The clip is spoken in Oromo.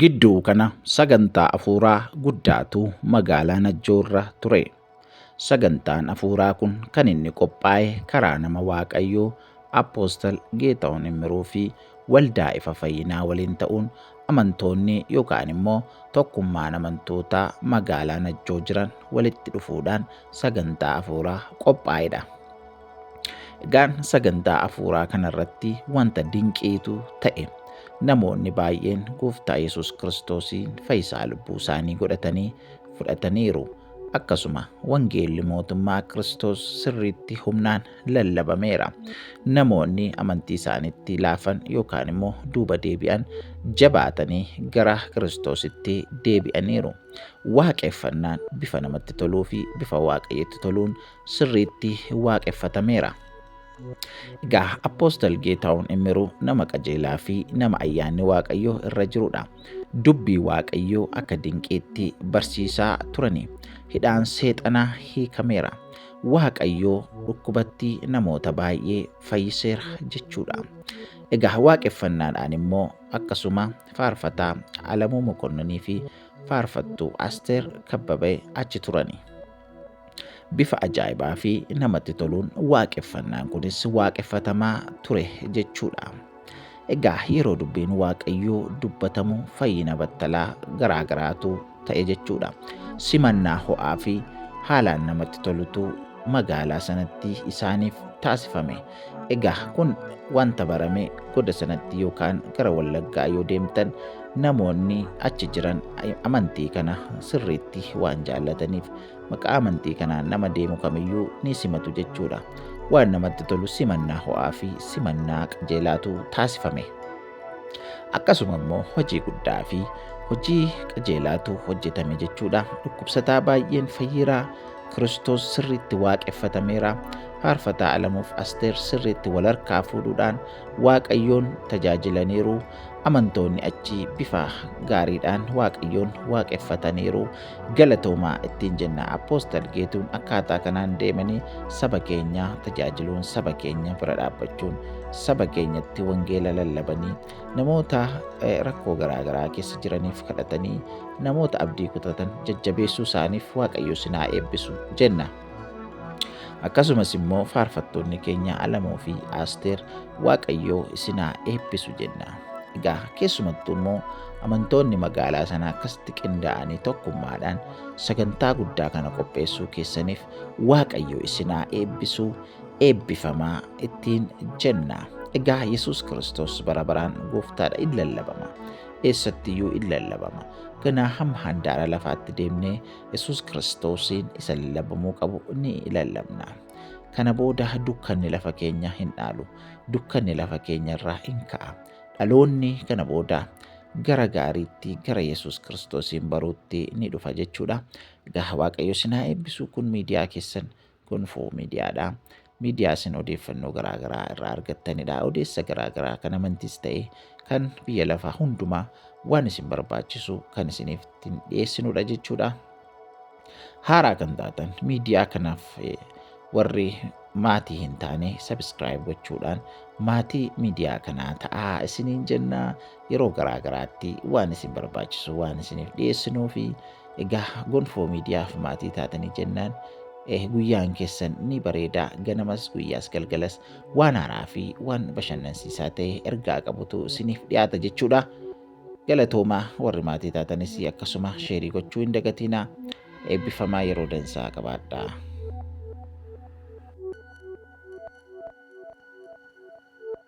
Gidduu kana sagantaa afuuraa guddaatu magaalaa Najjoorra ture. Sagantaan afuuraa kun kan inni qophaa'e karaa nama Waaqayyoo Apoostal Geetahuun Immiruu fi waldaa ifa fayyinaa waliin ta'uun amantoonni yookaan immoo tokkummaan amantootaa magaalaa Najjoo jiran walitti dhufuudhaan sagantaa afuuraa qophaa'edha. Egaan sagantaa hafuuraa kanarratti wanta dinqiitu ta'e. Namoonni baay'een gooftaa Yesuus Kiristoosiin fayyisaa lubbuu isaanii godhatanii fudhataniiru. Akkasuma wangeelli mootummaa Kiristoos sirriitti humnaan lallabameera. Namoonni amantii isaaniitti laafan yookaan immoo duuba deebi'an jabaatanii gara Kiristoositti deebi'aniiru. Waaqeffannaan bifa namatti toluu fi bifa Waaqayyotti toluun sirriitti waaqeffatameera. Egaa Appoostal Geetaawun Immiruu nama qajeelaa fi nama ayyaanni Waaqayyoo irra jirudha. Dubbii Waaqayyoo akka dinqiitti barsiisaa turani. Hidhaan seexanaa hiikameera. Waaqayyoo dhukkubatti namoota baay'ee fayyiseera jechuudha. Egaa waaqeffannaadhaan immoo akkasuma faarfataa Alamuu Mokonninii fi faarfattuu Asteer Kabbabee achi turani. bifa ajaa'ibaa fi namatti toluun waaqeffannaan kunis waaqeffatamaa ture jechuudha. Egaa yeroo dubbiin waaqayyoo dubbatamu fayyina battalaa garaa garaatu ta'e jechuudha. Simannaa ho'aa fi haalaan namatti tolutu magaalaa sanatti isaaniif taasifame. Egaa kun wanta barame goda sanatti yookaan gara wallaggaa yoo deemtan namoonni achi jiran amantii kana sirriitti waan jaallataniif maqaa amantii kanaan nama deemu kamiyyuu ni simatu jechuudha. Waan namatti tolu simannaa ho'aa fi simannaa qajeelaatu taasifame. Akkasuma immoo hojii guddaa fi hojii qajeelaatu hojjetame jechuudha. Dhukkubsataa baay'een fayyeera. Kiristoos sirriitti waaqeffatameera. Faarfataa Alamuuf Asteer sirriitti wal harkaa fuudhuudhaan Waaqayyoon tajaajilaniiru. Amantoonni achii bifa gaariidhaan Waaqayyoon waaqeffataniiru. Galatoomaa ittiin jenna Appoostal Geetuun akkaataa kanaan deemanii saba keenya tajaajiluun saba keenya bira dhaabbachuun saba keenyatti wangeela lallabanii namoota rakkoo garaagaraa keessa jiraniif kadhatanii namoota abdii kutatan jajjabeessuu isaaniif waaqayyo sinaa eebbisu jenna. Akkasumas immoo faarfattoonni keenya Alamoo fi Aasteer Waaqayyoo isin haa eebbisu jenna. Egaa keessumattuu immoo amantoonni magaalaa sanaa akkasitti qindaa'anii tokkummaadhaan sagantaa guddaa kana qopheessuu keessaniif Waaqayyo isin haa eebbisu eebbifamaa ittiin jenna. Egaa Yesuus Kiristoos bara baraan gooftaadha in lallabama. Eessattiyyuu in lallabama. Ganaa hamma handaara lafaatti deemnee Yesuus Kiristoosiin isa lallabamuu qabu ni lallabna. Kana booda dukkanni lafa keenya hin dhaalu. Dukkanni lafa keenya irraa hin ka'a. Dhaloonni kana booda gara gaariitti gara Yesuus Kiristoosiin baruutti ni dhufa jechuudha. Egaa Waaqayyo sinaa eebbisuu kun miidiyaa keessan Gonfoo miidiyaadha. Miidiyaa isin odeeffannoo garaagaraa irraa argattanidha. Odeessa garaagaraa kan amantis ta'e kan biyya lafaa hundumaa waan isin barbaachisu kan isiniif ittiin dhiyeessinudha jechuudha. Haaraa kan taatan miidiyaa kanaaf eh, warri maatii hin taane sabiskiraayib gochuudhaan maatii miidiyaa kanaa ta'aa isiniin jennaa yeroo garaa garaatti waan isin barbaachisu waan isiniif dhiyeessinuu fi egaa gonfoo miidiyaaf maatii taatanii jennaan eh, guyyaan keessan ni bareeda ganamas guyyaas galgalas waan haaraa fi waan bashannansiisaa ta'e ergaa qabutu isiniif dhiyaata jechuudha. Galatoomaa warri maatii taatanis akkasuma sheerii gochuu hin dagatiinaa eebbifamaa yeroo dansaa qabaadhaa.